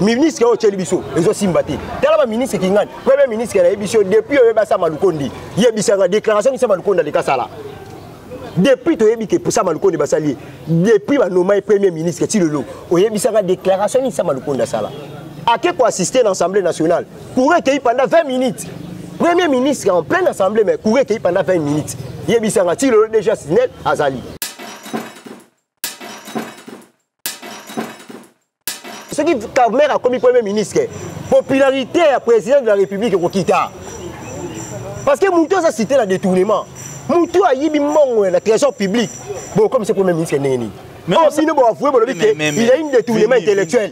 ministre oyo otyeli biso ezosimba te tala baministre kingani premier ministre nayebi biso depuis oyeba sama lukondi yebisanga déclaration nisa malukondi aleki asala depuis toyebi ke sama lukondi basali ye depuis banoma ye premier ministre ti lelo oyebisanga déclaration nini sama lukondi asala ake koassiste na assemblée nationale courant ekeyi pendant 20 minutes premier ministre en pleine assemblée mais courant ekeyi pendant 20 minutes yebisanga ti lelo déjà sinel azali soki kamer akomi premier ministre popularité ya président de la république ekokita parce que moto aza cité na détournement moto ayibi mbongo na trésor public bokomisa premier ministre ndenge nini bino boavoue bolobi ke il a une détournement intellectuel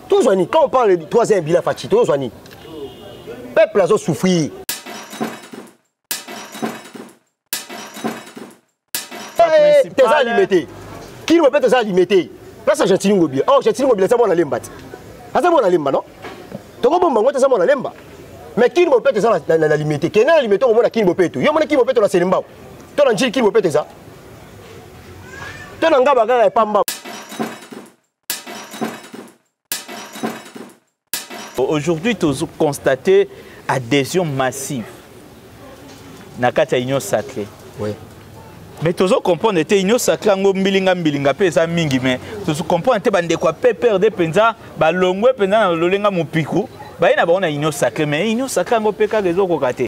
tozwa nini quand on parle de troisième bila faci tozwa nini peuple azo souffrir toza alime te kino mpe toza alime te place argentini ngobila o oh, argentini ngobila eza mwana lemba te aza mwana lemba no tokobomba yango te aza mwana lemba mais kini bopeto eza na limete kende na limete okomona kini bopeto yo omona kini bopeto na selembao to na njili kini bopeto eza to na ngaba kaka epambao Aujourd'hui, tu as constaté adhésion massive na kati ya union sacrée. Oui. mais tozo comprendre te union sacré yango mbilinga mbilinga mpe eza mingi mais tozo comprendre te bandeko ya pprd mpenza balongwe mpenza na lolenga mopiku baye na bango na union sacré mais union sacré yango mpe kaka ezokoka te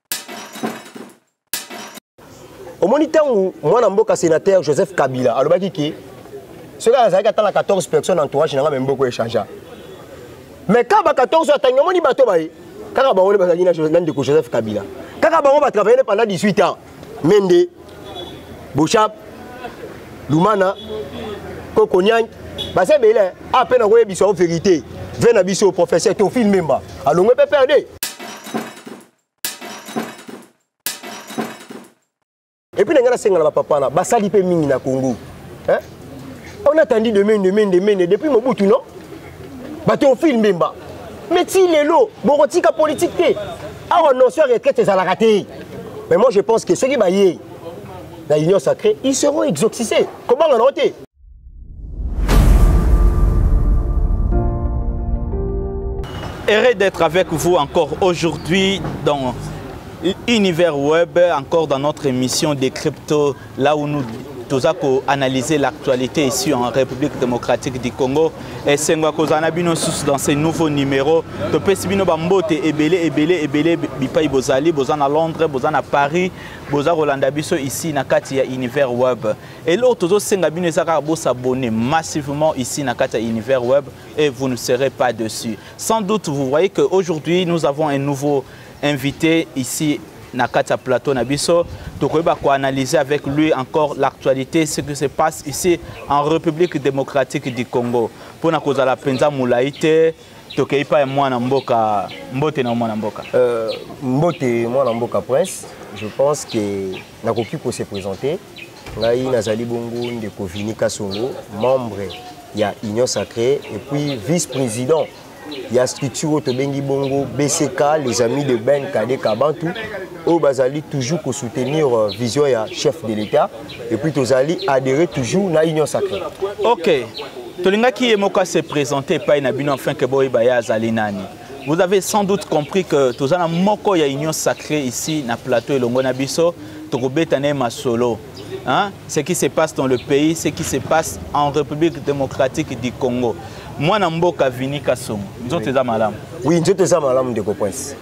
omoni ntango mwana mboka sénateur joseph kabila alobaki ke soki azalaki ata na 14 personne na entourage na ngai memboko echangea mais kaka ba 14 oyo atangi omoni bato baye kaka bango nde bazalaki na ndeko joseph kabila kaka bango batravaille nde pendant 18 ans mende bochap lumana kokoniang baza ebele ape na koyebisa o verité ve na biso professeur tofil memba alongwe mpe perde epuis na ngai nasenga na bapapa na basali mpe mingi na congo hein? on atandi de mende mende mende depuis mobutu non bato ofile mbemba mais ti lelo bokotika politique te awa notion ya retraite ezalaka te mais moi je pense que soki baye na union sacrée ils seront exoxisés kobanga nango te Heureux d'être avec vous encore aujourd'hui dans Univers Web, encore dans notre émission des cryptos, là où nous toza analyser l'actualité ici en République démocratique du Congo et c'est esengo kozala na bino susu dans ce nouveau numéro topesi bino bambote ebele ebele ebele bipai bozali boza na londres boza na paris boza kolanda biso ici na kati ya univers web eloko tozosenga bino eza kaka bosabonne massivement ici na kati ya univers web et vous ne serez pas dessus sans doute vous voyez que aujourd'hui nous avons un nouveau invité ici na kati ya plateau na biso tokoyeba koanalyse avec lui encore l'actualité ce qui se passe ici en république démocratique du congo mpo na kozala mpenza molai te tokei epai ya mwana mboka mbote na mwana mboka euh, mbote mwana mboka prince je pense que nakoki kose présente ngai nazali bongo ndeko vini kasongo membre ya union sacrée et puis vice président ya structure oyo tobengi bongo bck les amis de ben kade kabantu oyo bazali toujours kosoutenir euh, vision ya chef de l'état et puis tozali adhérer toujours na union sacrée ok tolingaki ye moko se présenter epai na bino afin ke boyeba ye azali nani vous avez sans doute compris que toza na moko ya union sacrée ici na plateau elongo na biso tokobeta na ye masolo hein? ce qui se passe dans le pays ce qui se passe en république démocratique du congo mwana mboka vini kasongo nzoto eza malamu oui nzoto eza malamu ndeko prince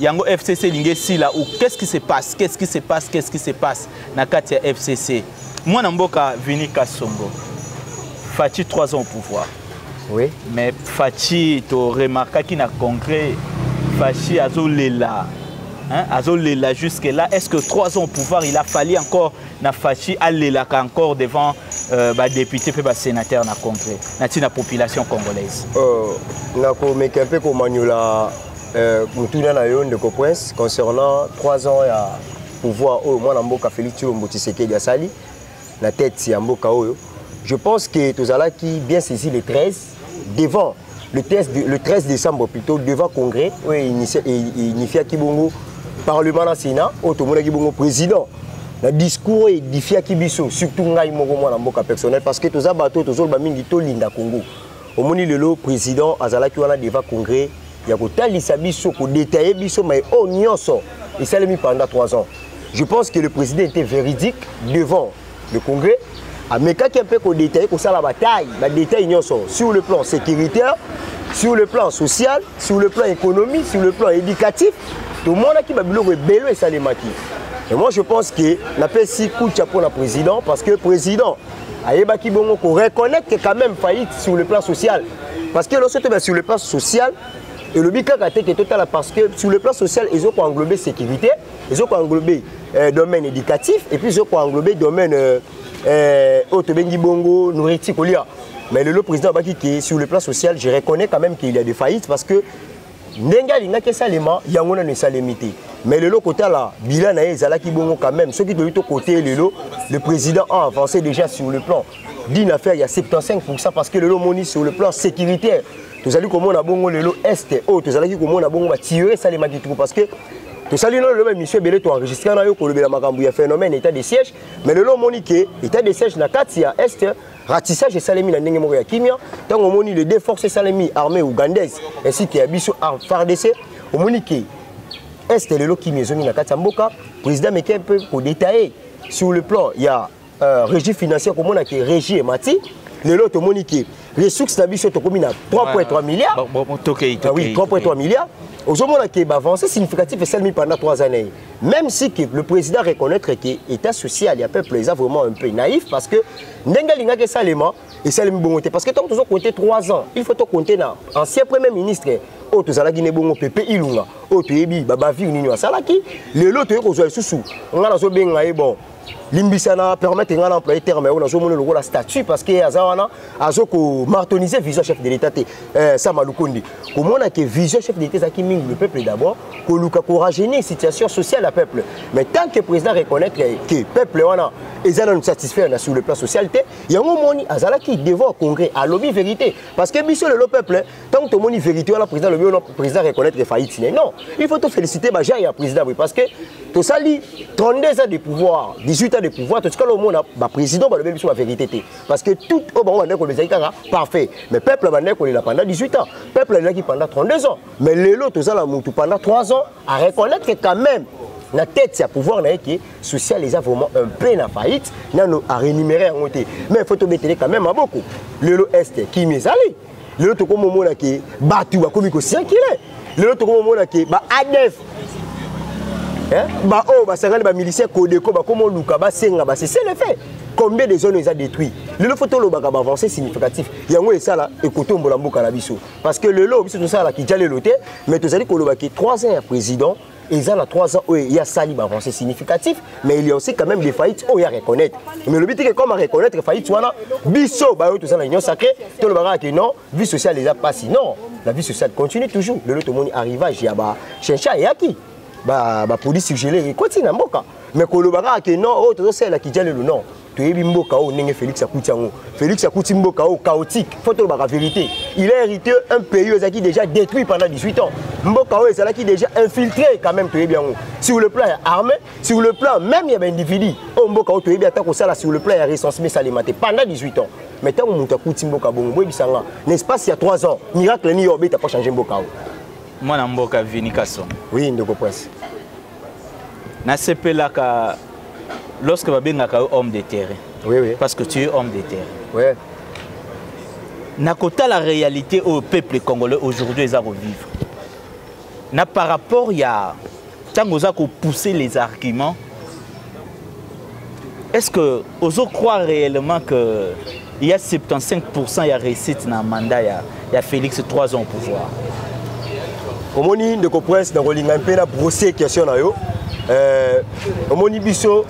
yango fcc elingi esila ou qu'est-ce qui se passe qu'est-ce qui se passe qu'est-ce qui se passe na kati ya fcc mwana mboka vini kasongo faci 3 ans au pouvoir oui. mais faci toremarkaki na congrès faci azolela Hein, azolela jusque là est ce que trois ans au pouvoir il a fallu encore na faci alelaka encore devant euh, badéputé mpe basénateur na congrès na ntina population congolaise euh, nakomeka mpe komanyola Euh, motuna na yo ndeko prince concernant 3 ans ya pouvoir oyo mwana mboka félix tshilombo tshisekedi asali na tete ya mboka oyo je pense que tozalaki bien saisi le 13 devant le, test de, le 13 décembre plutôt devant congrès oyo inifiaki bongo parlement na sénat oyo tomonaki bongo président na discours oyo edifiaki biso surtout ngai moko mwana mboka personnel parce que toza bato tozoloba mingi tolinda congo omoni lelo président azalaki wana devant congrès ya kotalisa biso kodetaille biso mai oyo oh, nyonso esalemi pendant 3 ans je pense que le président était véridique devant le congrès amekaki mpe kodetaille kosala bataille badetaille nyonso sur le plan sécuritaire sur le plan social sur le plan économie sur le plan éducatif tomonaki babiloko ebele esalemaki et moi je pense que napesi kucha mpona président parce que président ayebaki bongo ko reconnaître que quand même faillite sur le plan social parce que lorsque tu sur le plan social elobi kaka te ke totala parce que sur le plan social ezo ko englober sécurité ezo ko englober euh, domaine éducatif et puis ezo ko englober domaine euh, euh, oyo tobengi bongo nourriture kolia mais lelo président abaki ke sur le plan social je reconnais quand même qu'il y a des faillites parce que ndenge alingaki esalema yango nano esalemi te mais lelo kotala bilan na ye ezalaki bongo quand même soki toyebi tokote ye lelo le président a avancé déjà sur le plan d'une affaire ya 75 pourcent parce que lelo omoni sur le plan sécuritaire tozali komona bongo lelo est oyo tozalaki komona bongo batiyore esalemaki tuku parce que tosali no lelo baémission ebele toenregistre na yo kolobela makambo ya phénomène état de siège mais lelo omoni ke état de siège na kati ya est ratissage esalemi na ndenge moko ya kimia ntango omoni le deux force esalemi armée ougandaise ainsi que ya biso fardc omoni ke est lelo kimia ezongi na kati ya mboka président meke mpe kodetaille sur le plan ya euh, régie financière komona ke régie emati lelo tomoni ke ressource na biso tokomi na 3.3 milliards ah oui 3.3 milliards ozomona ke baavance significatif esalemi pendant 3 années Même si que le président reconnaître que état social ya peuple eza vraiment un peu naïf parce que ndenge alingaki esalema esalemi bongo te parce que ntango tozo compte 3 ans il faut to compte na ancien premier ministre oyo tozalaki ne bongo pepe ilunga oyo toyebi babavire nini asalaki lelo toyei kozwa lisusu ngai nazobenga ye bon limbisa na permettre ngai na employe terme yango nazomona lokola statut parce que aza wana azo komartonise vision chef de l'état te eh, sama lukundi komona ke vision chef de l'état ezalaki mingi le peuple d'abord koluka korajeunir situation sociale ya peuple mais tant que président reconnaître ke peuple wana eza nanu satisfaire na sur le plan social te yango omoni azalaki devant congrès alobi vérité parce que biso lelo peuple ntango tomoni vérité wana président alobi wana président reconnaître faillite ne non il faut tofélicité bagenre ya président boye parce que tosali 32 ans de pouvoir 18 ans de pouvoir totikala omona baprésident balobi biso bavérité te parce que tout oyo bango bandaki kolobezaki kaka parfait mais peuple abandaki kolela pendant 18 ans peuple alelaki pendant 32 ans mais lelo toza na motu pendant 3 ans à reconnaître quand même na tête ya pouvoir na ye ke social eza vraiment un peu na faillite nano arénuméré yango te mais faut tobetele quand même maboko lelo este kimi ezali lelo tokomi omona ke bato bakomi kosinkile lelo tokomi omona ke ba adf eh, baoyo oh, basangani bamilicien kodeko bakomi oluka basenga base c'est le fait combien de zones eza détruit lelo fo tolobaka baavancé significatif yango esala ekotombola mboka na biso parce que lelo biso tosalaka kijalelo te mais tozali kolobaki 3 ans ya président eza na 3 ans oyo ye asali baavancé significatif mais il y a aussi quand même des faillite oyo ya reconnaître mais lobi teke comme areconnaitre faillite wana biso bayo toza na union sacré toloba kaka ke non vie sociale eza mpasi non la vie sociale continue toujours lelo tomoni arrivage ya bachencha eyaki bapolice ba surgele ekoti na mboka mais koloba kaka ke non oyo oh, tozosalela kijalelo non toyebi mboka oyo ndenge félix akuti yango félix akuti mboka oyo chaotique fo tolobaka vérité il a hérité un pays oyo ezalaki déjà détruit pendant 18 ans mboka oyo ezalaki déjà infiltré quand même toyebi yango sur le plan ya armée sur le plan même ya baindividu oyo oh, mboka oyo toyebi ata kosala sur le plan ya recensement esalema te pendant 18 ans mais ntango moto akuti mboka bongo boyebisa nga na espace ya 3 ans miracle nini yo obeta mpo change mboka oyo mwana mboka vini kasongo oui ndeko prince nasepelaka lorsque babengaka yo homme de terrain oui, oui. parce que tu es homme de terrain oui. nakotala réalité oyo peuple congolais aujourd'hui eza kovivre na par rapport ya ntango oza kopousse les arguments Est-ce que ozo croire réellement que il y a 75% ya réussite na mandat ya, ya Félix 3 ans au pouvoir? omoni ndeko prince nakolinga mpe na brosser question na yo euh, omoni biso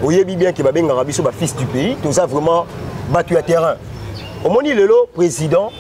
oyebi bien ke babengaka biso bafils du pays toza vraiment bato ya terrain omoni lelo président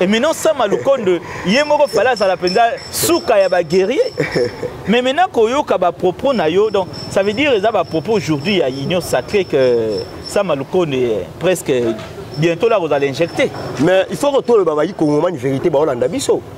et maintenant sama lukonde ye moko fale azala mpenza suka ya baguerrier mais maintenant koyoka bapropos na yo donc ça veut dire eza bapropos aujourd'hui ya union sacré que sama lukonde eh, presque bientôt là kozala injecté mais il faut kotoloba bayi kongomani vérité baolanda biso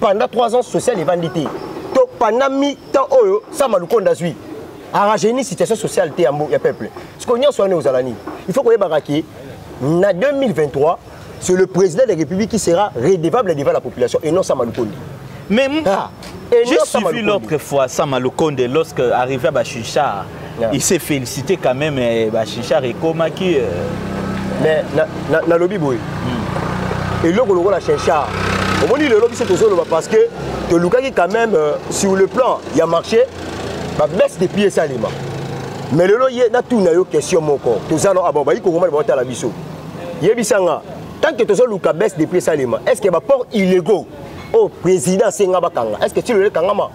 pendant 3 ans social evandi te to pendant mi temps oyo sama lukonda azwi arrangeni situation sociale te ya peuple siko nyonso wana ozala nini il faut koyebaka ke na 2023 c'est le président de la république qui sera redevable devant la population et non sama lukonda mais ah, j'ai suivi l'autre fois sama lukonde lorsque arrivé à bashushar yeah. il s'est félicité quand même eh, ba Chinchard ekomaki euh... mais na, na, na lobi boye mm. eloko lokola Chinchard omoni lelo biso tozoloba parce que tolukaki quand même euh, sur le plan ya marché ba baisse de prix esalema mais lelo ye natuna yo question moko toza no abo ah bayi kokoma baotala biso yebisa nga tant que tozoluka baisse de prix esalema est ce que baport illégaux oyo oh, président asenga bakanga est ce que ti lelo ekangama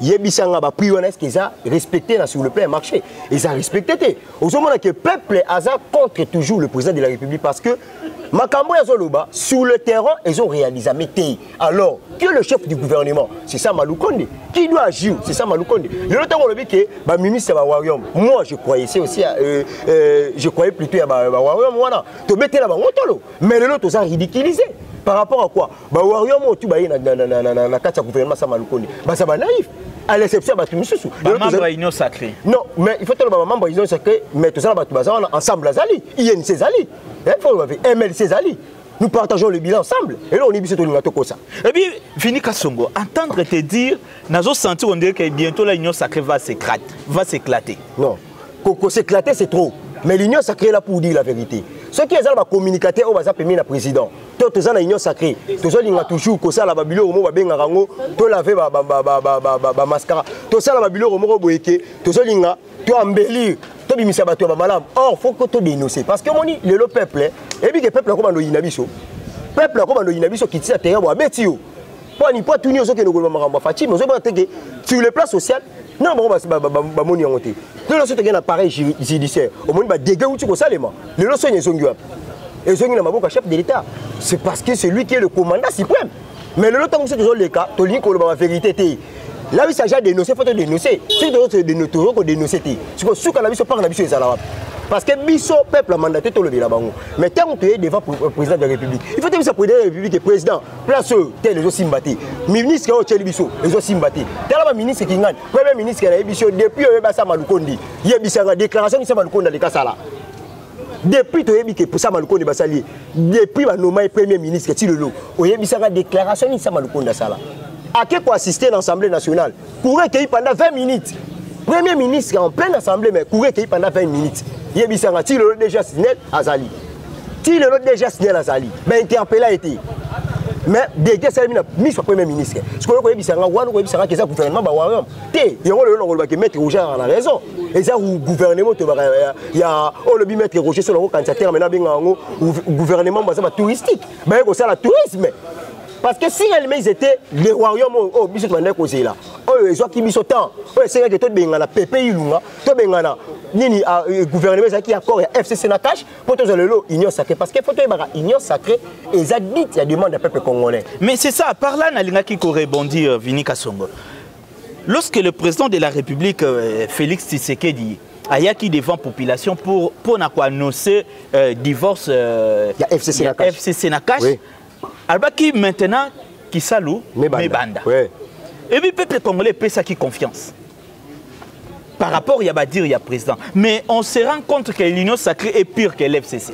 yebisa nga ba prix wana est-ce que eza respecté na sur le plan ya marché eza respecté te ozomona que peuple aza contre toujours le président de la république parce que makambo oyo azoloba sur le terrain ezo réalisame te alors que le chef du gouvernement c'est ça malukonde qui doit agir c'est ça malukonde lelo ntango olobi ke baministre ya bawarium moi je croyais se aussi euh, euh, je croyais plutôt ya bawarium wana tobetela bango tolo mais lelo toza ridiculisé par rapport à quoi ba warrior mo tu baye na na na na na kati ya gouvernement sama lukoni basa ba naïf à l'exception bato misusu ba membre ya union sacrée non mais il faut toloba ba membre ya union sacrée mais toza na bato baza wana ensemble azali inc ezali il faut loba mlc ezali nous partageons le bilan ensemble et là on est biso tolinga tokosa et puis Vini Kasongo entendre te dire nazo sentir on dirait que bientôt la union sacrée va s'éclater va s'éclater non koko s'éclater c'est trop mais l'union sacrée est là pour dire la vérité soki ezala bacommunicate oyo baza pemie na président to toza na union sacré tozolinga toujours kosala babiloko moko babengaka yango tolave bamascara tosala babiloko moko boye ke tozolinga to embellir tobimisa bato ya bamalamu or faut ko todénonce parce que omoni lelo peuple eyebi ke peuple akobanda oyina biso peuple akobanda oyina biso kitisa teya bo abeti yo pwani po atuni ozokende koloba makambo ya faci mais ozobona te ke sur le plan social nana bango bamoni yango te lelo so tokei na pareil judiciaire omoni badege uti kosalema lelo soni ezongi wapi ezongi na maboko ya chef de l'état c'est parce que c'est lui qui est le commandant suprême mais lelo ntango mosusu tozoleka tolingi koloba baverité te là oui saja dénoncé faut dénoncer soki tozo kodénoncer te siko suka na biso mpaka na biso ezala wapi parce que biso peuple ya mandaté tolobela bango mais ntango toye devant président de la république il faut tebisa président de la république président place oyo tel ezosimba te ministre oyo otyeli biso ezosimba te tala baministre kingani premier ministre nayebi biso depuis oyebi asama lukondi yebisanga déclaration nini sama lukondi aleka sala depuis toyebi ke sama lukondi basali ye depuis banoma ye premier ministre ti lelo oyebisanga déclaration nini sama lukondi asala ake koassiste na assemblée nationale courant ekei pendant 20 minutes premier ministre en pleine assemblée mais courant ekei pendant 20 minutes yebisanga ti lelo déjà snel azali ti lelo déjà snel azali bainterpela ye te mais dege esalemi na miso ya premier ministre sikoyo koyebisa nga wana koyebisa nga keza gouvernement bawarium te yango lelo nakolobaki maître roger ayaka na raison eza gouvernement tobaka ya olobi maître roger solo yango kanisa terme nabenga yango gouvernement baza batouristique baye kosala tourisme parce que si réellement ils étaient le royaume oyo oh, biso tobandaki kozela oyo oh, ezwaki biso temps oyo oh, esengaki tobengana pepe ilunga tobengana nini ah, euh, gouvernement ezalaki accord ya fcc na cash mpo tozwa lelo union sacrée parce que fo toyebaka union sacrée eza dite ya demande ya peuple congolais mais c'est ça par là nalingaki korebondir euh, vini kasongo lorsque le président de la république euh, félix tshisekedi ayaki devant population pour mpona koannonce euh, divorce euh, ya fcc na cash, FCC na cash oui. alobaki maintenant kisalu mebanda et puis peuple congolais epesaki confiance par rapport ya badire ya président mais on se rend compte que l'union sacrée est pire que l'fcc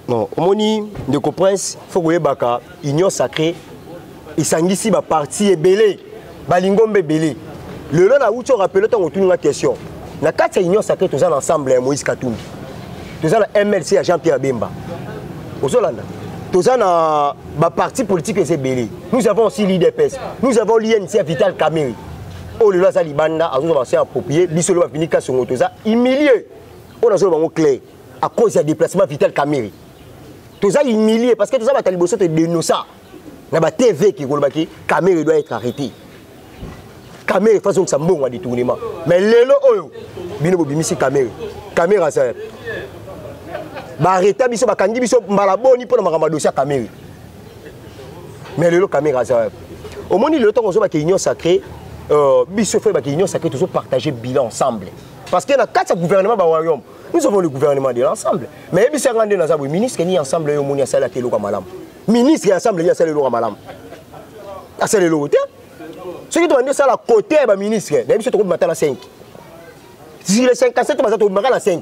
non omoni ndeko prince faut koyebaka union sacrée esangisi baparti ebele balingomba ebele lelo nauti orapele ntango otuni nga question na kati ya union sacré toza na ensemble ya moïse katumbi toza na mlc ya jean pierre bemba ozolanda toza na baparti politique eza ebele nous avons aussi l'idps nous avons l'unc ya vital cameri oyo lelo aza libanda azozwa baso ya approprié biso lelo bavini kasongo toza humilie oyo nazoloba yango clair à cause ya déplacement vital cameri toza humilie parce que toza bato ya liboso todenosa na ba tv eke koloba ke kamere doit être arrêté kamere fo azongisa mbongo ya détournement mais lelo oyo bino bobimisi kamere kamere aza yapi baarreta biso bakangi biso mbala boni mpo na makambo ya dosi ya kamere mais lelo kamere aza yapi omoni lelo ntango ozobaka union sacré euh, biso fo ebaka union sacré tozopartage bilan ensemble parce que na kati ya gouvernement bawayome nous avons le gouvernement de l'ensemble mais yebisa nga nde naza boye ministre ni ensemble oyo omoni asalaki eloko ya malamu ministre ya ensemble nini asala eloko ya malamu asala eloko te soki tobandi osala kote ya baministre na biso tokobima ata na 5 zile 57 baza tobimaka na 5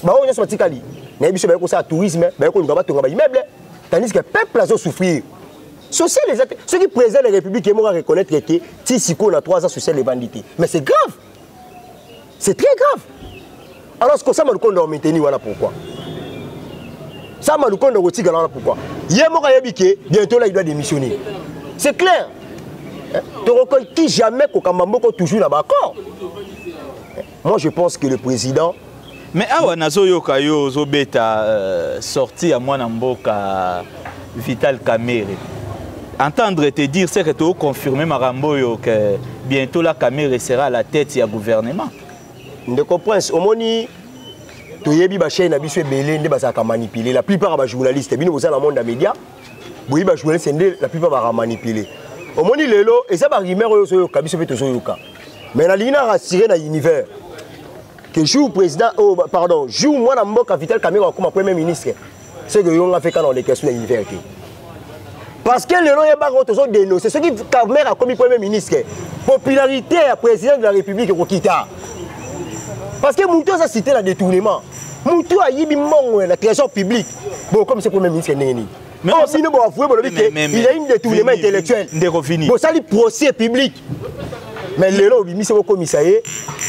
baoyo nyonso batikali nayebi biso baye kosala tourisme baye koluka batonga baimmeuble tandis que peuple azosouffrir social eza te soki président de la république ye moko areconnaitre ete ti sikoyo na 3 ans social evandi te mais c'est grave c'est très grave alors ce que sama lukonda wa maintenir wana pourquoi sama lukonda kotikala wana pourquoi ye moko ayebi ke bientôt là il doit démissionner c'est clair tokoki jamais kokamba moko toujours na baaccord moi je pense que le président mais awa nazoyoka yo ozobeta euh, sorti ya mwana mboka vital kamere entendre te dire seke toconfirme makambo oyo ke bientôt la kamere sera à la tête ya gouvernement ndeko prince omoni toyebi bachaine na biso ebele nde bazalaka manipule la plupart ya bajournaliste bino boza na monde ya média boyebi bajournaliste nde la plupart baka manipule omoni lelo eza barumeur oyo ozoyoka biso mpe tozoyoka mais nalingi na rassure na univers que jour président oh, pardon jour mwana mboka vital kamero akoma premier ministre ce que yo nga fait kana oleka sur l'univers te parce que lelo yebaka oyo tozo dénonce soki kamere akomi premier ministre popularité ya président de la république ekokita parce que moto aza cité na détournement moto ayibi mbongo ya na trésor public bokomisa premier ministre ndenge nini oyo oh, bino boavoue bolobi te il y a une détournement intellectuel bosali procès public mais lelo obimisi okomisa ye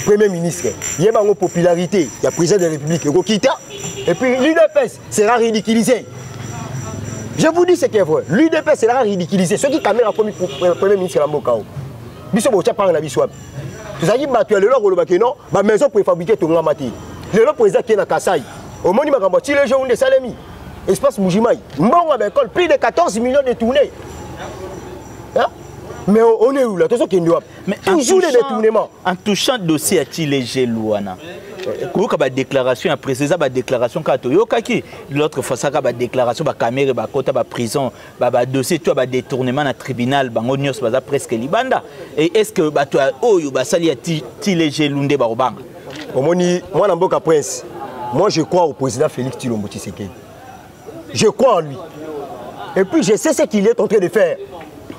premier ministre ye bango popularité ya président de la république ekokita et puis l'udps sera ridiculisé je vous dis ce qui est vrai l'udps sera ridiculisé soki kamera akomi euh, premier ministre ya mboka o biso botya mpanga na biso wapi tozalaki bato ya lelo akoloba ke non bamaison préfabriqué etongama te lelo président akie na kasai omoni makambo ya tilejo nde esalemi espace mujimai mbongo ya baekole plus de 14 millions de tournées mais on est où là tozokende wapi toujours les détournements en touchant dossier ya chilejel wana koyoka badéclaration ya président eza badéclaration kaka toyokaki l'autre fois saka badéclaration bakamere bakota baprison badossier to ya badétournement na tribunal bango nyonso baza presque libanda et est ce que bato ya oyo basali ya chilejelu nde bakobanga omoni mwana mboka prince moi je crois au président félix tilombo tshisekedi je crois en lui et puis je sais ce qu'il est en train de faire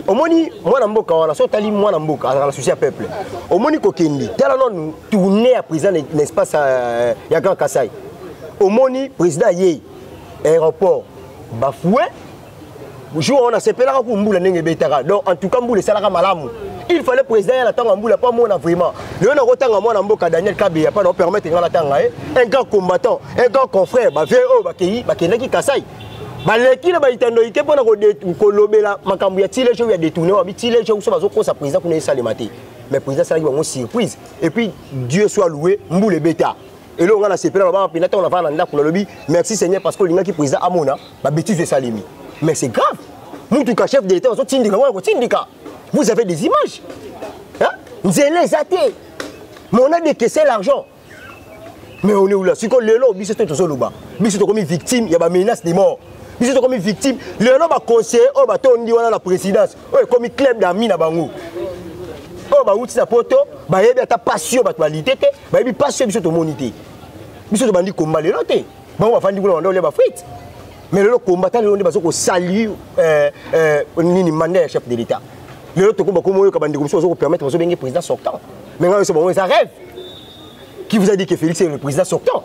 omoni mwana mboka wana soki otali mwana mboka azalaka na souci ya peuple omoni kokende tala nanu tourne ya président na espace euh, ya grand kasai omoni président ayei aéroport bafoue jour wana sepelaka ku mbula ndenge ebetaka donc en tout cas mbula esalaka malamu il fallait président ya na ntango ya mbula mpo amona vraiment lelo nakotanga mwana mboka daniel kabeya mpo naopermettre ngai natanga ye un grand combattant un grand confrère bavie oyo bakei bakendaki kasai baleki na baitando ike mpo na kolobela makambo ya tilejo ya detourne wabi tilejo so bazokosa président kuna esalema te mais président asalaki bango surprise et puis dieu soit loué mbula ebeta eloko ngai nasepela babanga mpenza ntango navanda na ndako nalobi merci seigneur parce que olingaki président amona babétise esalemi mais c'est grave mutuka chef de l'état bazotindika wana kotindika vous avez des images nzela eza te mais on a décaissé l'argent mais on est où là sikoyo lelo biso te tozoloba biso tokomi victime ya bamenace de mort biso tokomi victime lelo baconseiller oyo batondi wana na présidence oyo ekomi club d'ami na bango oyo bauti na poto bayebi ata pasi oyo bato balite te bayebi mpasi oyo biso tomoni te biso tobandi komba lelo te bango bafandi kuna banda olia bafrite mais lelo komba ta lelo nde bazo kosalue euh, euh, nini manda ya chef de l'état lelo tokoba koma oyoka bandeko mosusu bazo kopermettre bazo benge président sortant mais ngai nyonso bango eza rêve qui vous a dit que félix est le président sortant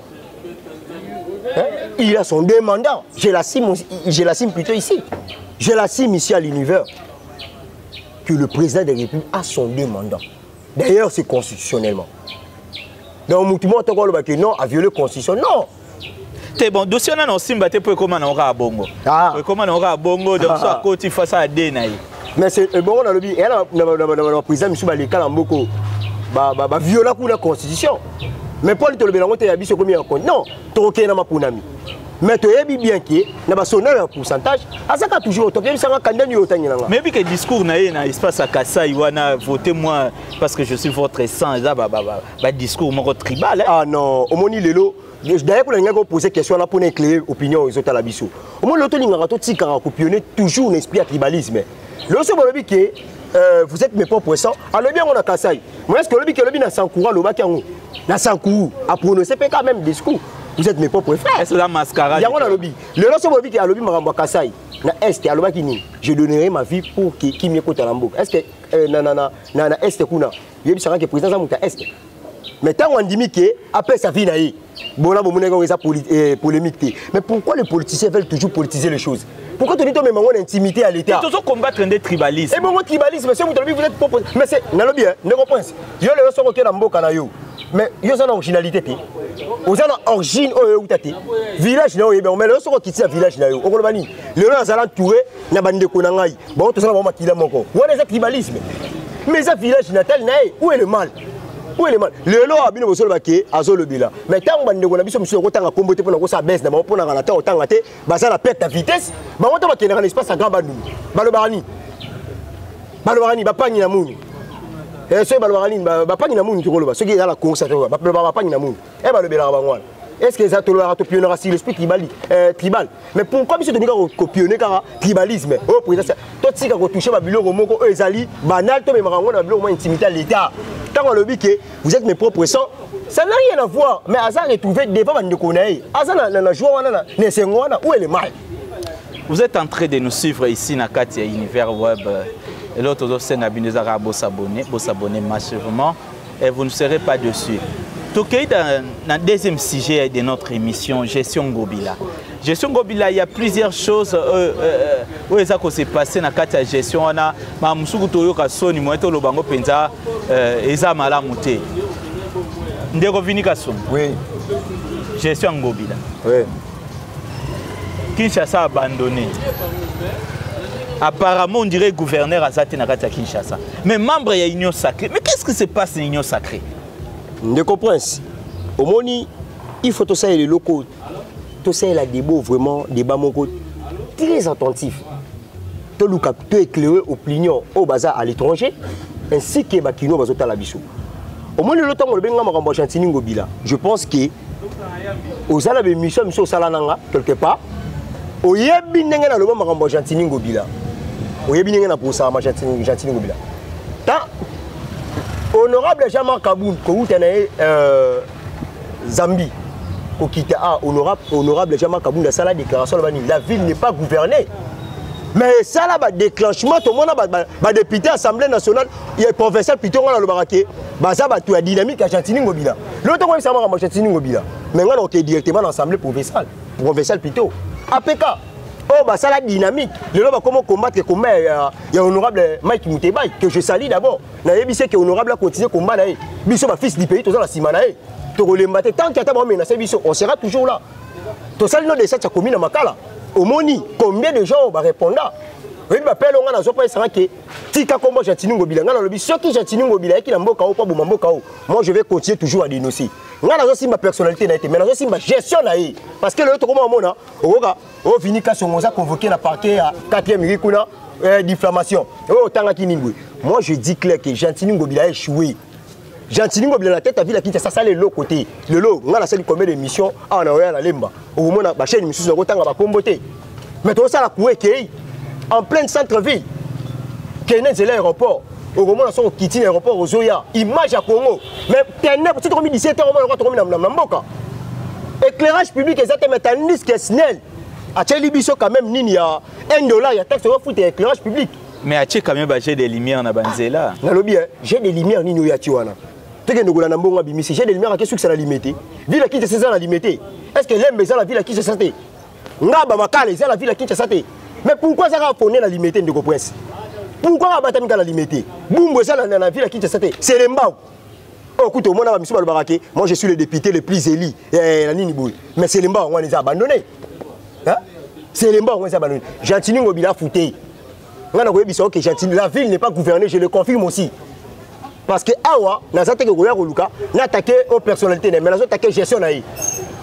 hein? il a son deux mandats je la cime je la cime plutôt ici je la cime ici à l'univers que le président de la république a son deux mandats D'ailleurs, c'est constitutionnellement. Donc, Moutoumou, tu as dit non, a violé la constitution. Non! te bon dossier wana na osimba te mpo ekóma nango kaka bongo ah. ekóma nango kaka bongo donc so akoti face ya de na ye mais ebongo nalobi eya na baprésident misu baleka na mboko baviola kuna constitution mais mpo litolobela yango te ya biso ekomi ya non tokokende na maponami mais toyebi bien ke na basonda ya pourcentage azaka toujours oto yebisanga kanda nini otangela nga mais bike discours na ye na espace ya kasai wana vote moi parce que je suis votre sang eza badiscours moko tribal ah non omoni lelo d'ailleurs mpo nalingaki opose question wana mpo na éclaire opinion ezotala biso omoni lelo tolingaka totikaka kopionne toujours na esprit ya tribalisme lelo so balobi ke euh, vous êtes mes propres sang alobi yango na kasai moyeske olobi ke olobi na sankoura alobaki yango na sankuru a prononcer pe quand même discours vous êtes mes propres frères c'est la mascarade yango nalobi lelo soki boyebi ke alobi makambo ya kasai na est alobaki nini je donnerai ma vie pour ke kimia ekota na mboka est ce que euh, na, na, na, na, na est kuna yebisaka ke président aza moto ya est mais ntango andimi ke apesa vie na ye bona bomonaki yango eza eh, polémique te mais pourquoi les politiciens veulent toujours politiser les choses pourquoi toni tomema ngo na intimité ya l'état tozo combattre nde tribalisme et bongo tribalisme c'est moto alobi vous êtes propre mais c'est nalobi hein ndeko prince yo lelo soko okenda mboka na yo mais yo oza na originalité te oza na origine oyo euta te village na yo oyebi yango mais lelo soki okiti na village na yo okoloba nini lelo nazala entouré na bandeko na ngai bango tozala bango makila moko wana eza tribalisme mais eza village natal na ye où est le mal welema lelo oyo bino bozoloba ke azolobela mai ntango bandeko na biso mosusu nakotanga nkombo te mpo nakosala bese na bango mpo nakala ntango otanga te baza na perte ya vitesse bango nto bakendaka na espace ya grand bandundu balobaka nini balobaka nini bapangi na muni eh, soki balobaka nini bapangi na muni tokoloba soki eza na course balobaka bapangi na muni e eh, balobelaka bango wana est ce que eza tolobaka topionaka sur l'esprit tribali eh, tribal mais pourquoi biso tolinga kopionne kaka tribalisme oyo oh, présence totika kotouche babiloko moko oyo ezali banal tomemaka yango na babiloko mwa intimité ya l'état ntango alobi ke vous êtes mes propres sang ça n'a rien à voir mais aza retrouvé devant bandeko na ye aza na, na, na joie wana na esengo wana où est le mal vous êtes en train de nous suivre ici na kati ya univers web eloko tozosenga bino eza kaka bosabone bosabone massivement et vous ne serez pas dessus tokei na deuxième sujet de notre émission gestion ngobila gestion ngobila ya plusieurs choses oyo euh, euh, euh, eza ko se passer na kati ya gestion wana makambo mosuku toyoka soni moye toloba yango mpenza eza malamu te ndeko vini kasongo oui. gestion ya ngobila oui. kinshasa abandonné apparemment on dirait gouverneur aza te na kati ya kinshasa mais membre ya union sacrée mais qu'est ce qui se passe na union sacrée ndeko prince omoni il faut tosalela eloko oyo tosalela debo vraiment deba moko très attentif toluka to éclaire opinion oyo baza à l'étranger ainsi que bakino bazotala biso omoni lelo ntango olobi nga makambo ya chantini ngobila je pense que oza na bemission ya miso osala na nga quelque part oyebi ndenge naloba makambo ya chantini ngobila oyebi ndenge na kosalama chantini ngobila ta honorable jean marc kabund kowuta na ye euh, Zambie kokita a ah, honorable honorable Jean-Marc Kabunda sala déclaration la la ville n'est pas gouvernée mais esala ba déclenchement to mona ba, ba, ba député assemblée nationale ya professeur Piton ngana lobaka ke baza ba ya dynamique ya Gentini Ngobila lelo to koyebisa maka Gentini Ngobila mais ngana oke directement na assemblée provinciale provinciale Piton APK oyo oh, basala dynamique lelo bakoma combattre combat ya, ya honorable mike mutebai que je salie d'abord nayebi se ke honorable a continuer combat na ye biso ba fils du pays toza na nsima na ye tokolemba te tant que ata baomenase biso on sera toujours là tosali no desat ya komi na makala omoni combien de gens bareponda oyebi bapele onga nazwa mpo esanga ke tika nkombo gentini ngobila ngai nalobi soki gentini ngobila ayaki na mboka oyo mpo aboma mboka oyo moi je vais continuer toujours à dénoncer ngai nazosimba personnalité na ye te mais nazosimba gestion na ye parce que lelo tokoma omona okoka oyo oh, vini kasongo oza convoqué na parquet ya 4e rue kuna euh, diffamation oyo oh, otangaki nini boye moi je dis clair que gentini ngobila échoué gentini ngobila na tête ya ville ya kinshasa asala eloko te lelo ngai nasali combien de mission awa na oya na lemba okomona bachaine misusu nakotanga bakombo te mais tozosala kuekei en pleine centre ville kende nzela aéroport okomona soko okiti na aéroport ozoya image ya congo mais teneb soki tokomi 17 heure omona tokomi na mboka éclairage public eza te mais tandis que snel atyeli biso quand même nini ya 1 dollar ya taxe ofuta ya éclairage public mais atie quand même bajet de lumière na banzela nalobi jet de lumière nini oyo atie wana tokende kolanda mbongo abimisi jet de lumière akesukisa na lime te ville akitisa eza na lime te est ce que lembe eza na ville akitisa te ngaba makala eza na ville ya kinshasa te mais pourquoi eza kaka pone na limete ndeko prince pourquoi babatami kaka na limete bumbu eza na ville ya kinshasa te selembao oyo oh, kutu omona bamisu balobaka ke moi je suis le député le plus élu eh, na nini boye mais selembao yango wana eza abandonne selembao yango eza abandonne gentini ngobila afutei ngai nakoyebisa oke gentili la ville n'est pas gouvernée je le confirme aussi parce que awa naza teke koya koluka natake o personnalité na ye mai nazotake gestion na ye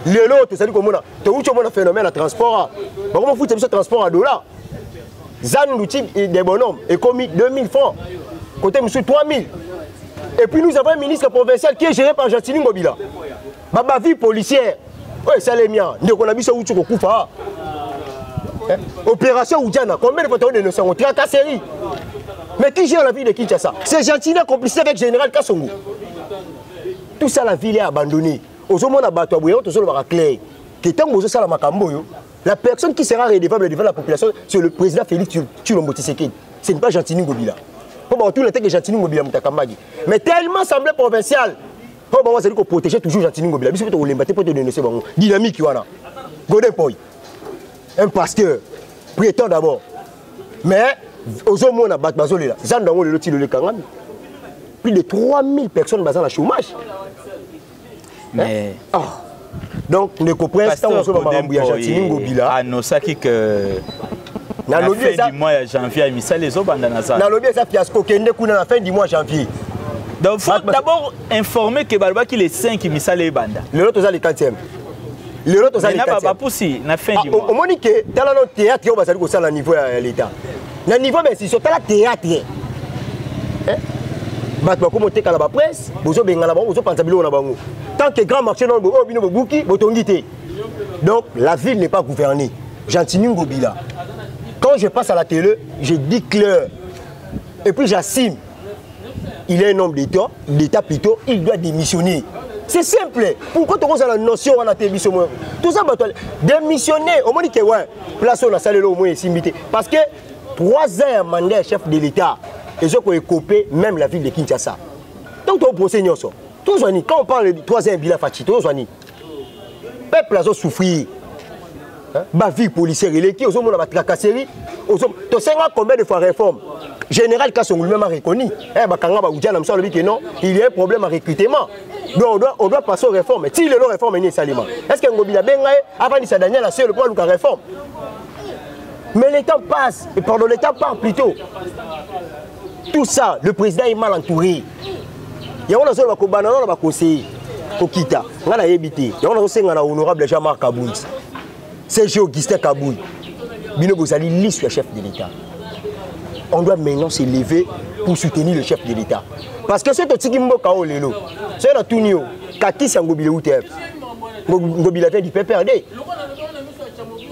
lelo oyo tozali komona towuti omona phénomène ya transport a bakoma futa biso transport ya dollar zan luti de bonhomme ekomi 2000 francs côté mosusu 3000 et puis nous avons un ministre provincial qui est géré par gentili ngobila ba bavure policière oyo esalemi awa ndeko na biso awuti kokufa awa eh, opération ujana combien de fois tao dénonce yango tracasserie mais qui gère la ville de kinshasa c'est gentini complicité avec général kasongo tout ça la ville est abandonnée ozomona bato ya boye yango tozolobaka claire ke ntango bozosala makambo oyo la personne qui sera redevable devant la population c'est le président félix tulombo tisekedi ce n'est pas gentini ngobila mpo bakotuna te ke gentini ngobila moto akambaki mais tellement semblé provincial oyo bango azali koprotege toujours gentini ngobila biso mpe tokolemba te mpo todenonse bango dynamique wana godin poi un pasteur prétend d'abord mais ozomona bato bazolela zando yango lelo tilo lekangami plus de 3000 personnes baza na chômage mais eh? ah. donc ndeko prince ntango ozoba makambo ya jatini ngobila anosaki ke nalobi eza mois ya janvier misala ezobanda na zala nalobi eza fiasco kende kuna na fin du mois janvier donc faut d'abord informer que balobaki les 5 misala ebanda lelo toza le 4e lelo tozali bapusi na fin ah, omoni ke tala no théâtre oyo bazali kosala na niveau ya l'état na niveau ba institution tala théâtre eh? bato bakomi otekala bapresse bozobengana bango bozopanza biloko na bango tant que grand marché nao oyo bino bobuki botongi te donc la ville n'est pas gouvernée gentini ngobila quand je passe à la télé je dis clair et puis j'assume il est un homme d'état d'état plutôt il doit démissionner c'est simple pourquoi tokozala notion wana te biso moko toza bato démissionner omoni ke we place oyo nasaleli omoi esimbi te parce que trois ans ya mandat ya chef de l'état ezo koekope même la ville de kinshasa donc toprocès nyonso tozwani quand on parle de trois ans ya bila faci tozwani peuple azo souffrir bavie policière eleki ozomona batracasserie tosenga combien de fois réforme général kasongo lui-même a reconnu eh, bakanga baudja na mosu alobi ke non il y a un problème à recrutement donc on doit, on doit passer aux réformes ti lelo réforme eni esalema est ce que ngobi nabenga ye avandisa daniel aselo mpo aluka réforme mais le temps passe et pardon le temps part plutôt tout ça le président est mal entouré yango nazoloba kobanda nao na baconseiller kokita ngai nayebi te yango nazosenga na honorable jean marc kabui cg augustin kabui bino bozali lisu ya chef de l'état on doit maintenant se lever pour soutenir le chef de l'état parce que soki totiki mboka oyo lelo soki natuni yo kakisi ya ngobile utf ngobile vient du pprd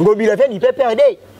ngobile vient du pprd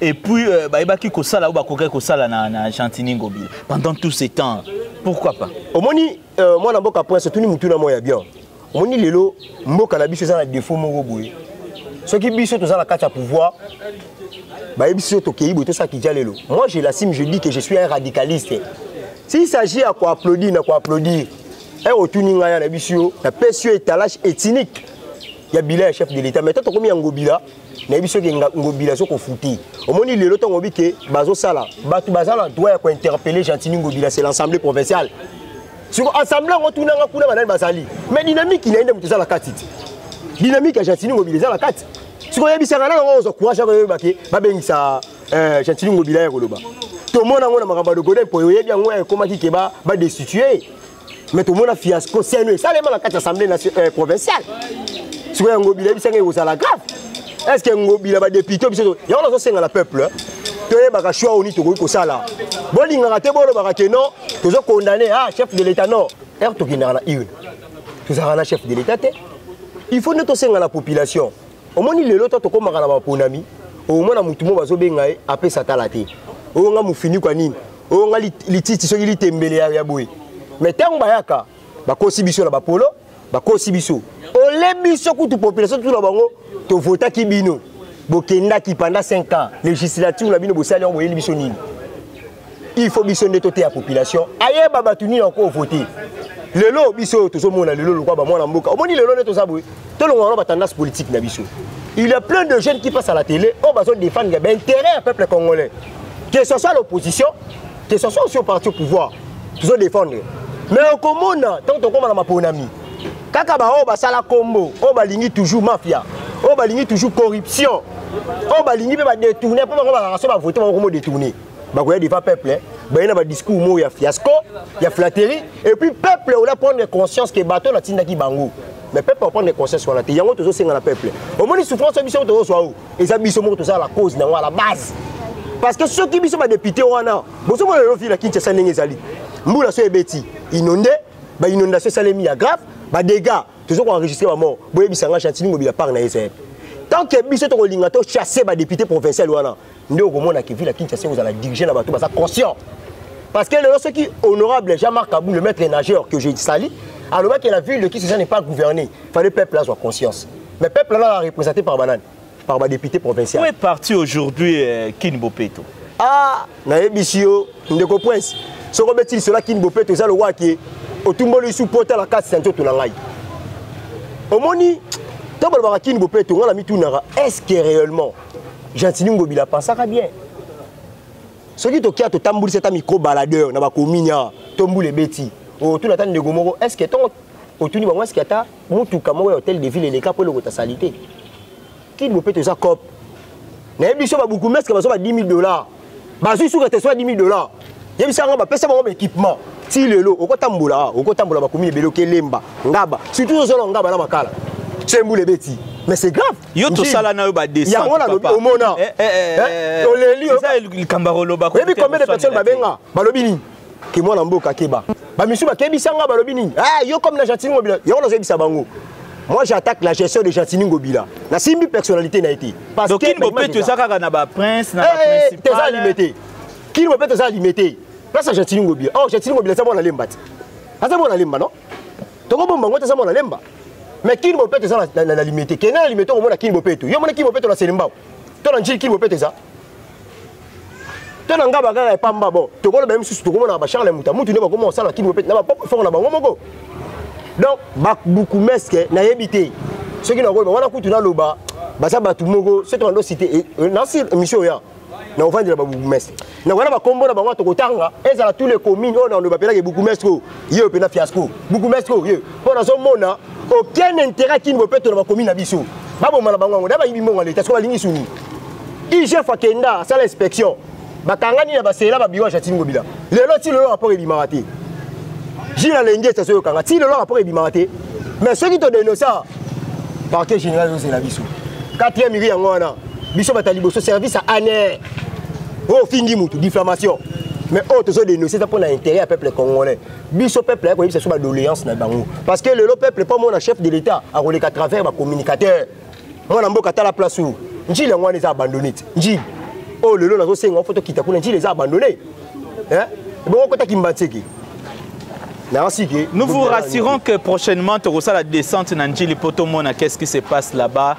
et puis euh, bayebaki kosala oyo bakokaki kosala na, na gentini ngobila pendant tout ce temps pourquoi pas omoni euh, mwana mboka prince otuni motuna moko ya bien omoni lelo mboka na biso eza na défaut moko boye soki biso toza na kati ya pouvoir bayebi biso tokei boye tosala kija lelo moi je l'assume je dis que je suis un radicaliste s'il s'agit ya koapplaudir na koapplaudir e otuni ngai ya na biso yo napesi yo étalage ethnique ya bilan ya chef de l'état mais to tokomi ya ngobila nayebi soki ngobila azo kofuti omoni lelo ntango obi ke bazosala bato baza na droit ya kointerpele gentini ngobila c'est l'assemblée provinciale siko assemblée yango tunanga kuna banani bazali mais dynamique na ye nde moto eza na kati te dynamique ya gentini ngobila eza na kati siko oyebisaka nano yango ozwa courage yako oyeba ke babengisa eh, gentini ngobila ya koloba tomona yango na makambo ya logoden mpo oyebi yango ekomaki ke badestitue mais tomona fiasco seno esalema na kati ya assemblée euh, provinciale sikoyo yango bila ebisanga ekozala grave est ce que ngobila badepute biso yango nazosenga na peuple toyebaka choix oni tokoki kosala bolingaka te bolobaka ke non tozo condamne ah chef de l'état non ere tokendaka na une tozalaka na chef de l'état te il faut nde tosenga na population omoni lelo to tokomaka na baponami omona motu mo bazobenga ye apesa tala te oyo nga mofinikwa nini oyo nga lititi soki litembele ya, ya boye mais ntango bayaka bakosi biso na bapolo bakosi biso ole biso kutu population tuna bango tovotaki bino bokendaki pendant 5 ans législature na bino bosali yango boyeli biso nini il faut biso nde toteya population ayeba bato nini yango kovote lelo biso oyo tozomona lelo lokola bamwana mboka omoni lelo nde toza boye tolongola na batendance politique na biso il y a plein de jeunes qui passent à la télé oyo bazo défendre ya baintérêt ya peuple congolais que ce soit l'opposition que ce soit aussi au parti au pouvoir tozo défendre mais okomona ntango tokóma na maponami kaka baoyo basala nkombo oyo balingi toujours mafia oyo balingi toujours corruption oyo balingi mpe badetourne mpo bango balaka so bavote bango komo detourne bakoya devant peuple eh. baye na badiscours moko ya fiasco ya flatterie et puis peuple ola prendre conscience ke bato natindaki bango mais peuple aprendre conscience wana te yango tozosenga na peuple omoni souffrance oyo biso oyo tozozwa oyo eza biso moko tozala la cause na yango à la base parce que soki biso badepute wana bozomona lelo ville ya kinshasa ndenge ezali mbula so ebeti inonde bainondation esalemi ya grave badégats tozo koenregistre bamort boyebisa nga chantini mobila part na ye zayebe tant que biso tokolinga tochasse badepute provincial wana nde okomona ke ville ya kinshasa ekozala dirige na bato baza conscient parce que lelo soki honorable jean marc abou le maître nageur que je sali alobaki la ville de kinshasa n'est pas gouvernée fallait peuple azwa conscience mais peuple ana a représenté par banani par badéputé provincial est parti aujourd'hui euh, kin bopeto ah nayebisi yo ndeko prince soki obeti lisola kin bopeto eza lokola ke otumboli lisu mpo otala kati ya nzoto na ngai omoni ntango balobaka kini bopeto ngai na mitunaka est ce que réellement gentini ngobila apensaka bien soki tokia totambulisa ata micro baladeur na bakomini awa to mbula ebeti otuna ata ndeko moko est ce que ntongo otuni bango est ce que ata motuka moko ya hotel de ville eleka mpo elokota salite kini bopeto eza cope nayebi biso babukumeske bazwa ba 10 000 dollars bazwi suka te soki 10 dollars yebisa yango bapesa bango baéquipement ti lelo okotambola ah, okotambola bakomi ebele okelemba ngaba surtout ozona ngaba na makala sembula ebeti mais c'est grave yo tosala na yo badesyango nalobi omona eh, eh, eh, oleli likambo akoloba oyebi combien de personnes babenga balobi nini ke mwana mboka keba bamisu bakebisa nga balobi nini ah, yo comme na gentini ngobila yango nazoyebisa bango moi j'attaque la gestion de gentini ngobila nasimbi personnalité na ye te parcekin bopeto eza kaka na baprince na eh, teza alime te kini bopeto eza alime te place ya gentini ngobila or oh, gentini ngobila eza mwana lemba te aza mwana lemba no tokobomba ngo te eza mwana lemba mais kini bopeto eza na lime te kende na lime te okomona kini bopeto yo omona kini bopeto na selembao to na njili kini bopeto eza to na ngai bakaka epamba bon tokoloba ye mosusu tokomona bacharle muta mutu nde bakoma kosala kini kopete na bapop efoko na bango moko donc babukumeske nayebi te soki nakoloba wana kutu naloba baza bato moko soki tokando site eh, eh, nasi émission oya na ovandela ba bourgmestre na wana bakombo na bango tokotanga ezala tous les communes oyo naloba mpenaka bourgmestre oyo ye oyo mpena fiasco bourgmestre oyo ye mpo nazomona aucun intérêt kini bopeto na bakomi na biso baboma na bango yango na bayibi mbongo ya leta siko balingi suni igf akenda asala inspection bakangani na basela babiro ya jatini ngobila lelo ti lelo rapport ebimaka te jina lenge estaso yokanga ti lelo rapport ebimaka te mais soki todenosa parquet général ezozela biso quatrième iri yango wana biso bata liboso service ane oyo ofingi motu diffamation mais oyo tozodenosa eza mpo na intérêt ya peuple congolais biso peuple ayaki koyebisa biso badoléance na bango parce que lelo peuple mpo mona chef de l'état akoleka travers bacommunicateur mwana mboka tala place oyo njili yango wana eza abandonne te njili oyo oh, lelo nazosenga ofo tokita kuna njili eza abandonne eh? bongo kota kimbanseke Nous vous rassurons que prochainement, tu la descente Nandjili Potomona. Qu'est-ce qui se passe là-bas,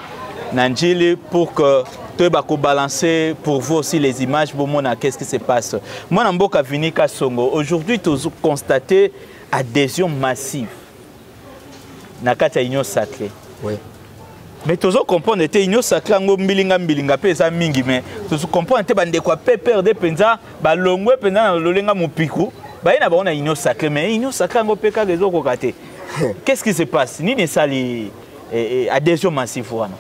Nandjili, pour que toyeba kobalancer pour vous aussi les images bomona qu'est-ce qui se passe mwana mboka vini kasongo aujourd'hui toconstate adhésion massive na kati ya union sacrée oui. mais tozo comprendre ete union sacré yango mbilinga mbilinga mpe eza mingi mais tozo comprendre ete bandeko ya pprd mpenza balongwe mpenza na lolenga mopiku baye na bango na union sacré mais union sacré yango mpe kaka ezokoka te qu'est ce qui se passe nini esali eh, eh, adhésion massive wana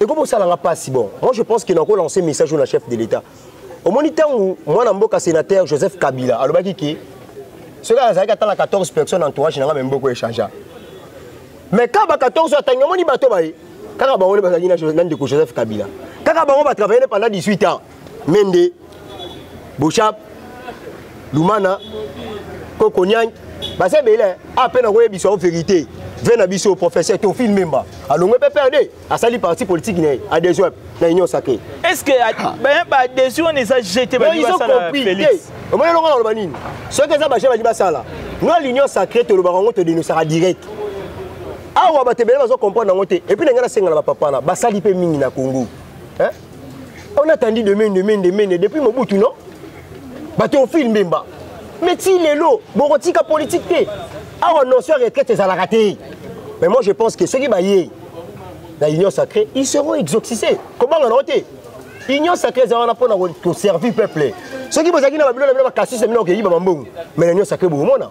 ekomi osala nga mpasi bon moi je pense que nako lance message oyo na chef de l'état omoni ntango mwana mboka sénateur joseph kabila alobaki ke soki azalaki ata na 14 personnes entourage na nga me mboko echangea mais kaka ba 14 atangi omoni bato baye kaka bango nde bazalaki na ndeko joseph kabila kaka bango batravaille nde pendant 18 ans mende boshab lumana koko niang baza ebele a mpe nakoyebisa yo verité ve na biso professeur tofil memba alongwe mpe perde asali parti politique na ye adhesion na union sacré est ce que ah. baadhesion wana eza jete baompris omoni elongo naloba nini soki eza baje bali basala no l'union sacré tolobaka yango todenosaka direct awa bato ebele bazo comprendre yango te epuis na ngai nasengana bapapana basali mpe mingi na congo On a attendu de mende, mende, mende, depuis Mobutu, non Bateau film Bemba. Mais ti lelo, bokotika politique te. Awa non sur retraite ezalaka te. Mais moi je pense que ceux qui baillent la union sacrée, ils seront exorcisés. Comment on a été Union sacrée eza wana pona ko servir peuple. Ceux qui bozaki na babilo na bino ba kasisi na bino ko yiba mambongo. Mais l'union sacrée bomona.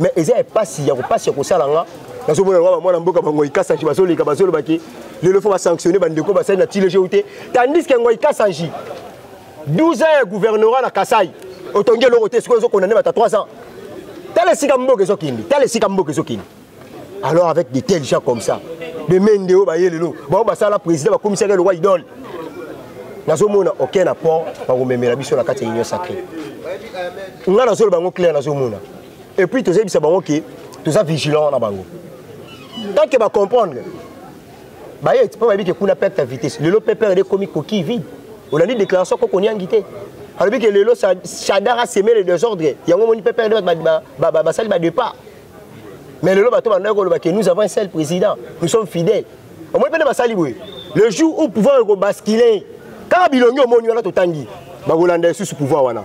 mais eza ya pasi ya kopasi ya kosala nga nazomona loka bamwana mboka bango ikasanji bazoleka bazolobaki lelo fo basanctionne bandeko basali na tilege ou te tandis ke ngo ikasanji 12 ans ya gouvernorat na kasai otongi eloko te sikoyo ezokondane bata 3 ans tala esika mboka ezokende tala esika mboka ezokende alors avec des tels gens comme ça bemende oyo baye lelo bango basala président bakomisaki eloko idole nazomona oke na port bakomemela biso na kati ya union sacré ngai nazoloba yango claire nazomona et puis tozebisa bango ke toza vigilant na bango tant que ba comprendre baye mpo bayebi ke kuna perte ya vitesse lelo pprd ekomi coquille vide olandi déclaration koko onyangi te alobi ke lelo shadar aseme le désordre yango omoni pprd bato basali badépart mais lelo bato bandaki koloba ke nous avons un seul président nous sommes fidèles omoni mpe nde basali boye le jour où pouvoir ekobascule kaka bilongi omoni wana totangi bakolanda lisusu pouvoir wana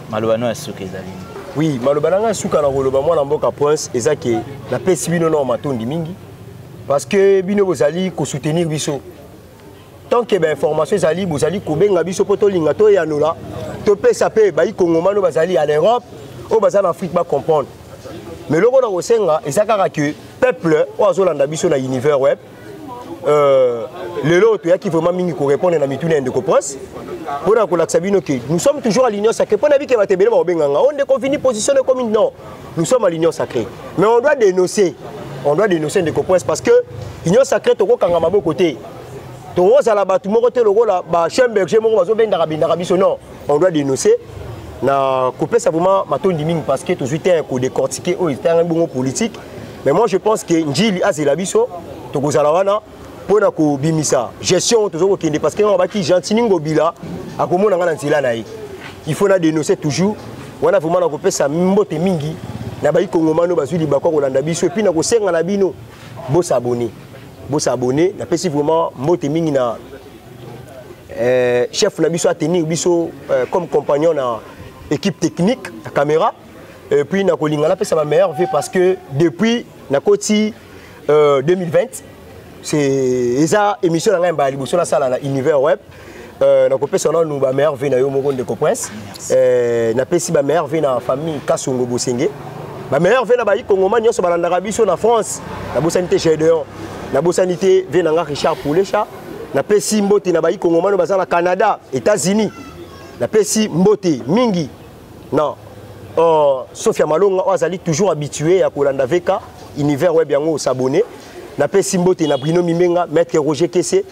maloba no ya suka ezali nini oui maloba na ngai suka na koloba mwana mboka prince eza ke napesi bino nao matondi mingi parce que bino bozali kosoutenir biso tant que bainformation ezali bozali kobenga biso mpo tolinga toyanola topesa mpe baikongomani oyo bazali à l'europe oyo baza na afrique bacomprendre mais eloko na kosenga eza kaka ke peuple oyo azolanda biso na univers web euh, lelo oyo toyaki vraiment mingi korépondre na mituna ya ndeko prince mpo na kolakisa bino ke nous sommes toujours à l'union sacrée mpo na bike bato ebele bakobenganga o oh, ndeko vini position ekomi non nous sommes à l'union sacrée mais on doit dénoncer on doit dénoncer ndeko prince parce que union sacrée tokokanga maboko te tokozala bato moko te lokola ba chien berger moko bazobendaka bendaka biso non on doit dénoncer na kopesa vraiment matondi mingi parce que tozwi temps ya kodecortike oyo etangami bongo politique mais moi je pense que njili azela biso tokozala wana mpo na kobimisa gestion tozo kokende parce que abaki gentini ngobila akomona ngai na nzela na ye il faut na dénoncer toujours wana vraiment na kopesa mbote mingi na bayi kongomano bazwi libako ya kolanda biso epuis na kosenga na bino bosabone bosabone napesi vraiment mbote mingi na euh, chef na biso atenir biso euh, comme compagnon na équipe technique ya caméra et puis nakolinga napesa ba meilleur vie parce que depuis nakoti euh, 2020 c'est eza émission na ngai mbala liboso nasala na univers web Euh, nakopesa nanu bameilleur vie na yo moko ndeko prince euh, napesi bameilleur vie na famille kasongo bosenge bameilleur vie na baikongoma nyonso balandaka biso na france nabosani te gedeon nabosani te vie na nga richard poulesha napesi mbote na baikongomano baza na canada états-unis napesi mbote mingi na uh, sofia malonga oyo azali toujours habitué ya kolanda vk univers web yango osabone napesi mbote na brino mimenga maître roger kese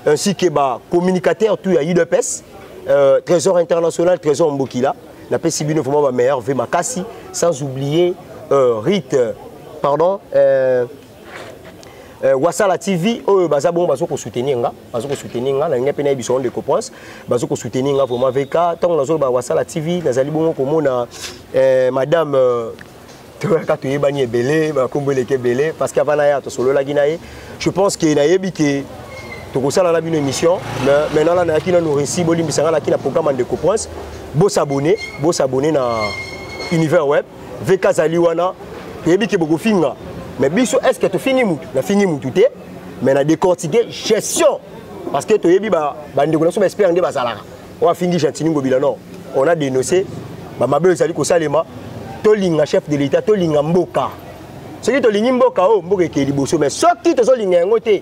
ainsi que bacommunicateur tout ya udps euh, trésor international trésor mbokila napesi bino vraiment bameilleur ve makasi sans oublier euh, rite pardon euh, euh, wasala tv oyo baza bongo bazo kosoutenir nga bazo kosoutenir nga nalingi mpe nayebi biso ndeko prince bazo kosoutenir nga vraiment vk ntango nazoloba wasala tv nazali bongo komona euh, madame euh, toyaka toyebani ebele bakombo eleki ebele parce que avant na ya tosololaki na ye je pense ke nayebi ke tokosala na bino émission mais maintenant la nayaki nanu réussi bolimbisa nga naki na programme ya ndeko prince bosabone bosabone na univers web vk azali wana toyebi ke bokofinga mais biso est ce que tofingi mutu nafingi mutu te mais na décortique gestion parce que toyebi bandeko na biso baespere nde bazalaka oyo afingi gentini ngobila non on a dénoncé bamabe oyo ezali kosalema tolinga chef de l'état tolinga mboka soki tolingi mboka oyo mboka ekee liboso mais soki tozolinga yango te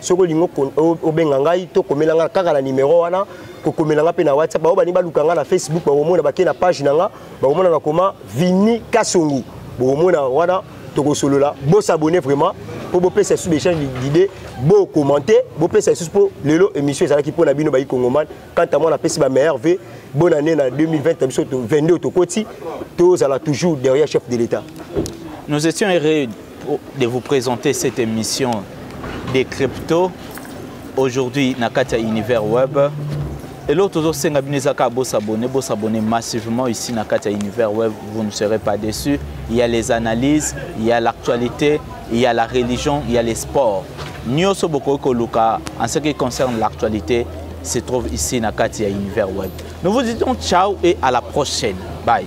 soki olingi obenga ngai to komela ngai kaka na nimero wana kokomela ngai mpe na whatsapp bango balingi baluka ngai na facebook bakomona bake na page na ngai bakomona nakoma vini kasongo bokomona wana tokosolola bosabone vraiment mpo bopesa lisusu baechange d'idée bokommente bopesa lisusu mpo lelo émission ezalaki mpo na bino bayi kongomani quant à moi napesi ba meilleur v bonne année na 2020 na biso 22 tokoti tozala toujours derrière chef de l'état nous étions heureux de vous présenter cette émission des crypto aujourd'hui na kati ya univers web eloko tozosenga bino eza kaka bosabone bosabone massivement ici na kati ya univers web vous ne serez pas déçu il y a les analyses il y a l'actualité il y a la religion il y a les sports nyonso bokoki koluka en ce qui concerne l'actualité se trouve ici na kati ya univers web nous vous disons ciao et à la prochaine bye